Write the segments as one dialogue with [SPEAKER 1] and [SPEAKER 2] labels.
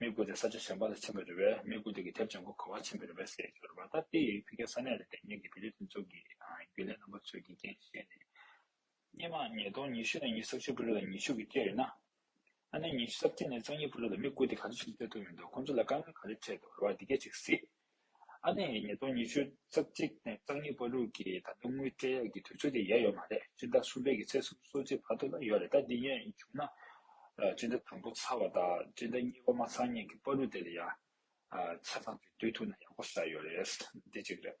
[SPEAKER 1] མི་བཀོལ་ཏེ་ས་ཆ་གཞན་པ་ལ་ཕྱིན་པར་རེ་བས་མི་བཀོལ་ཏེ་ཀྱི་དེབ་ཅན་གོ་ག་བར་ཕྱིན་པའི་རེ་བས་ཟེར་གྱི་ཡོད་པ་ལྟར་ཏེ་བྷི་ཀའི་ས་གནས་ལ་དེ་སྙེད་ཀྱི་བེ་རི་དོན་གཅོག་གི་རྒྱུ་ལས་རྣམ་པ་ཚོས་ཀྱི་རྐྱེན་བཤད་ནས། སྙེ་མ་ཉིས་སྟོང་ཉི་ཤུ་ནས་ཉིས་སར་ཆུ་བུ་རི་ལ་ཉི་ཤུ་གི་སྐད་ཡོད་ན། ཨ་ནེ་ཉི་ཤུ་སར་སྐྱེས་ནས་གཙང་ཉི་བུ་རི་ལ་མི་བཀོལ་ཏེ་ག་ཚོད་ཅིག་སྤྲད་ཐུབ་མི་འདུག་ཁོང་ཚོ་ལ་དཀའ་ངལ་ག་ཚོད་འཕྲད་འདུག་རེ་བ་འདི་སྐད་ཅིག་གཟིགས། ཨ་ནེ་ཉིས་སྟོང་ཉི་ཤུ་རྩ་གཅིག་ནས་རྩ་གཉིས་པར་ལུག་གི་ད་དུང་དངུལ་སྤྲད་ཡག་གི་དུས་ཚོད་དེ་ཡལ་ཡོད་མ་རེད་སྤྱི་ཟླ་གསུམ་པའི་གི་ཚེ་གསུམ་སོ་གཅིག་བར་དུ་ལ་ཡོད་རེད་ད་འདི་ཡན་བྱུང་ན་སྤྱི་ཟླ་དང་པོ་ཚར་བ་དང་སྤྱི་ཟླ་གཉིས་པ་མ་ཚར་སྙིང་གི་པར་ལུག་དེ་ལ་ཡང་ཆ་ཚང་གི་སྡོད་ཐུག་ན་ཡག་པོ་ཟ་ཡོད་རེད་འདི་གཅིག་རེད།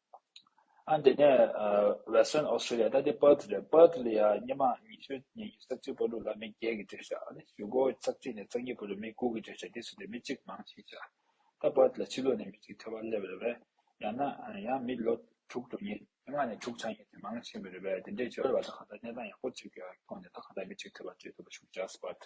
[SPEAKER 1] ཨ་འདི་ནས Western Australia ད་དེ Perth རེད Perth ལ་ཡ་སྙེ་མ་ཉི་ཤུ་ཉི་ཉི་རྩ་གཅིག་པོ་ལུག་ལ་མི་བརྒྱད་ཀྱི་བྲོས་བྱ་ནི་ཞུ་སྒོ་རྩ་གཅིག་ནས་རྩ་གཉིས་པོ་རུ་མི་དགུ་གི་བྲོས་བྱ་དེ་སུ་དེ་མི་གཅིག་མང་ཤེས་བྱ་ད Perth ལ་ཕྱི་ལོག་ནས་མི་གཅིག་ཐོས་པ་སླེབས་རེད་བས་ཡང་ན་ཡང་མི་ལོ་དྲུག་དྲུག་ཉིས་ལྔ་ནས་དྲུག་ཆག་ཡིན་དེ་མང་ཆེན་པོ་རེད་བས་དེ་འདྲའི་བྱོལ་བ་ད་གང་ལྟར་གནས་སྟངས་ཡག་པོ་གཅིག་ཐོག་ནས་ད་གང་ལྟར་མི་གཅིག་ཐོས་པ་བྲོས་ཐུབ་པ་ཞུ་བྱ Perth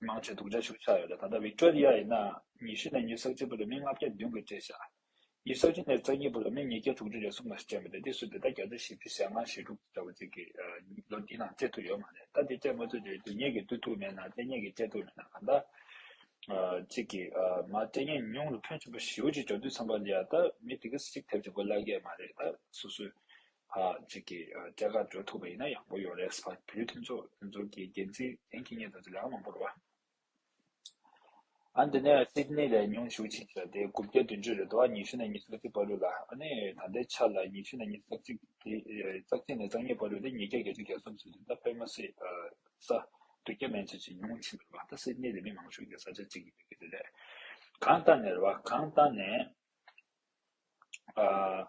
[SPEAKER 1] དམངས་ཁྲོད་དུག་འདྲ་ཞུགས་ཆགས་ཡོད་ལ་ད་ལྟ་བིཀ་ཏྲོ་རི་ཡ་ཡིན་ནའང་ཉི་ཤུ་ནས་ཉི་གསར་གཅིག་བར་དུ་མི་ལྔ་བརྒྱ་བདུན་གྱིས་བཀྲེས་ཤག་ཉི་གསར་གཅིག་ནས་རྩ་གཉིས་བར་དུ་མི་ཉིས་བརྒྱ་དྲུག་ཅུ་རེ་ཟུང་ལ་སྤྱད་མི་འདོད་དེ་སུས་དེ་ལྟར་བརྒྱ་ཆ་བཞི་བཅུ་ཞེ་ལྔ་ཞེ་དྲུག་འདྲ་བོ་གཅིག་གིས་ལོ་འདིའི་ནང་སྤྱད་ཐུབ་ཡོད་མ་རེད་ད་དེ་སྤྱད་མ་ཐུབ་དུས་དེ་ཉིད་ཀྱིས་བསྡུ་ཐུབ་མེད་ན་དེ་ཉིད་ཀྱིས་སྤྱད་ཐུབ་མེད་ན་གང་ལྟར་གཅིག་གིས་མ་སྤྲད་ཉེས་མྱོང་ལ་ཕོན་ཆེན་པོ་ཞེ་བོ་ཅིག་འཇོག་དུས་ཚང་པ་ལ་ཡ་ད་མི་དེ་གིས་ཅིག་ཐེབས་ཅིག་པོ་གླ་རྒྱས་མ་རེད་ད་སོ་སོས་གཅིག་གིས་སྐྱ་རྒ་འགྲོ་ཐུབ་པ་ཡིན་ན་ཡག་པོ་ཡོད་རེད་བོད་བརྒྱུད་མཐུན་ཚོགས་མཐུན་ཚོགས་ཀྱི་འགན་འཛིན་གཞན་གྱིས་ངེད་ཚོ་ལ་ལག་མང་པོ་རོལ་བ། ཨ་འདི་ནས་སིད་ནི་ལས་ཉུང་ཤུགས་ཆེ་བྱས་ཏེ་དགུ་བརྒྱ་བདུན་ཅུ་རེ་དོ་ཨ་ཉི་ཤུ་ན་ཉི་ས་གཅིག་སྤར་ལུགས་ལ་ཨ་ནི་ད་ལྟའི་ཆ་ལ་ཉི་ཤུ་ན་ཉི་ས་གཅིག་དེ་རྩ་གཅིག་ནས་རྩ་གཉིས་སྤར་ལུགས་ཏེ་ཉིས་བརྒྱ་བརྒྱད་ཅུ་གྱ་གསུམ་ཟེར་དུས་ད་ཕེབས་མ་སྲིད་ས་དུ་སྐྱ་མེན་ཚོས་ཇི་ཉུང་ཕྱིན་པའི་བར་ད་སིད་ནི་ལས་མི་མང་ཤོས་ཀྱི་ས་ཆ་གཅིག་ཡིན་པའི་གལ་ཏེ་ལས་གང་ལྟ་ནས་རེད་བ་གང་ལྟ་ནས་ཨ།